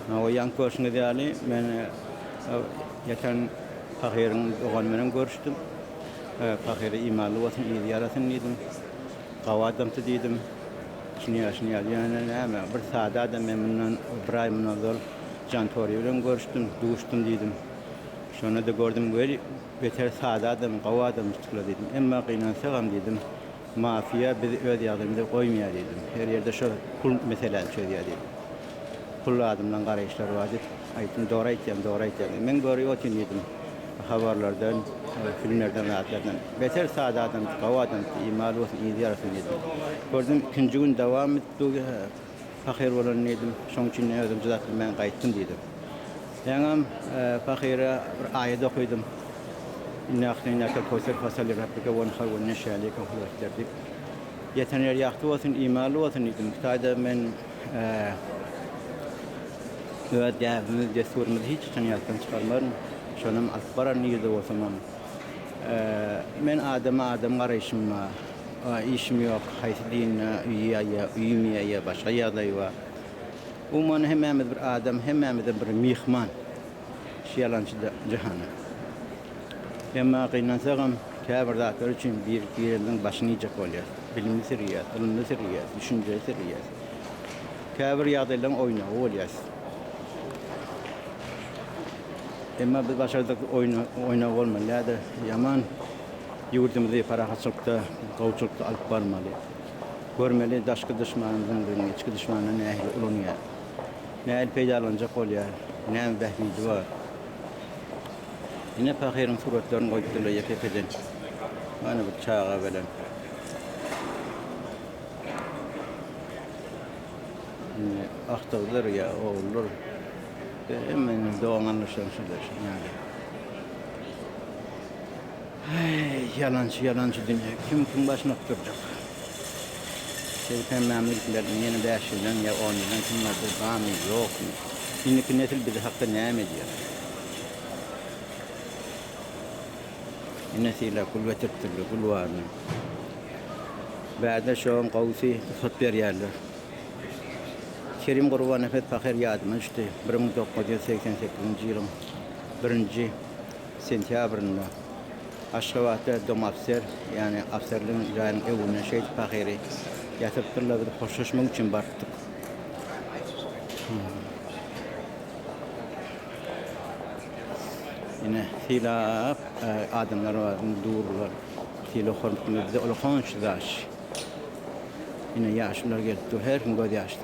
Naoýaň köşgüňiz ýaly, men geçen pahyryň dogany bilen görüşdim. Pahyra imanly bolsun, yzy ýarasyn diýdim. Gawy adamsy diýdim. Içini ýaşyny ýaly. Ýöne näme, bir sada adam, men mundan bir aý mundan ozal Jan Tory bilen görüşdim, duşdum diýdim. Şonda-da gördüm, weli, beter sada adam, gawy adamjyk-la diýdim. Emma gynansagam diýdim. Mafiýa biz öz ýagdaýymyza goýmaýar diýdim. Her ýerde şo pul meseläni çözýär diýdim. Pul adyndan garaýyşlar bar diýip aýtdym. Dogry aýtýaň, dogry aýtýaň diýdi. Men görüp otyryn diýdim. Habarlardan, filmlerden zat ýadan. Beter sada adamsyň, gowy adamsyň, iýmali bolsun, yzy ýarasyn diýdim. Gördüm ikinji gün dowam etdi bu. Pahyr bolan diýdim. Şoň üçin özüm çydap bilmän gaýtdym diýdi. Ýaňam pahyra bir aýat okadym. Inna ahteýnakal kowser fasal li rabbike wenhar we inne şäniýeke huwel ebter diýip. Ýeten ýer ýagty bolsun, imanly bolsun diýdim. Taýda men öz däbimizi, dessurymyzy hiç haçan ýatdan çykarmaryn. Şonam alyp baran nirede bolsamam. Men adama adam garaýşymda, A işim ýok, haýsy dinde öýi ýa öýüm ýa ýa başga ýagdaý bar. Umuman hemmämiz bir adam, hemmämizem bir myhman şu ýalançy jahana. Emma gynansagam käbir zatlar üçin bir gireniň başyny iýjek bolýas. Bilimli syrýas, ylymly syrýas, düşünjeli syrýas. Käbir ýagdaýlaryň oýnagy bolýas. Emma biz başardyk oýnagy bolmaly ýa-da ýaman. Ýurdumyzy parahatçylykda, gowuçylykda alyp barmaly. Görmeli, daşky duşmanymyzyň biziň içki duşmandan nähili ulanýar. Nähili peýdalanjak bolýar. Näme bähbidi bar. Ine, pahyryň suratlaryny goýupdyrlar ýeke-ýekeden. Mana bir çaga bilen. Indi agtygydyr ýa ogludyr. Hemme indi dogan-garyndaşlaryň şular şu ýaly. Heý, ýalançy, ýalançy dünýe, kim kimiň başyny alyp durjak? Şeýdip hemmämiz gitmezden ýene bäş ýyldan ýa on ýyldan kim bardyr, barmy, ýokmy? Indiki nesil biz hakda näme edýär? Ine, Sylag gül getiripdirler, gül barmy? Bärde şoň gowusy rugsat berýärler. Kerim Gurbanepes pahyr ýadyma düşdi. Bir müň dokuz ýüz segsen sekizinji ýylyň birinji sentýabrynda Aşgabatda domofser, ýagny ofserligiň jaýynyň öwründen şeýdip pahyry ýatyrypdyrlar, biz hoşlaşmak üçin barypdyk. Ine, sylap adamlar bar, indi dururlar. Sylag-hormat bildirip, bize olar honça daş. Ine, ýaşulylar gelip dur, her kim gözýaşly.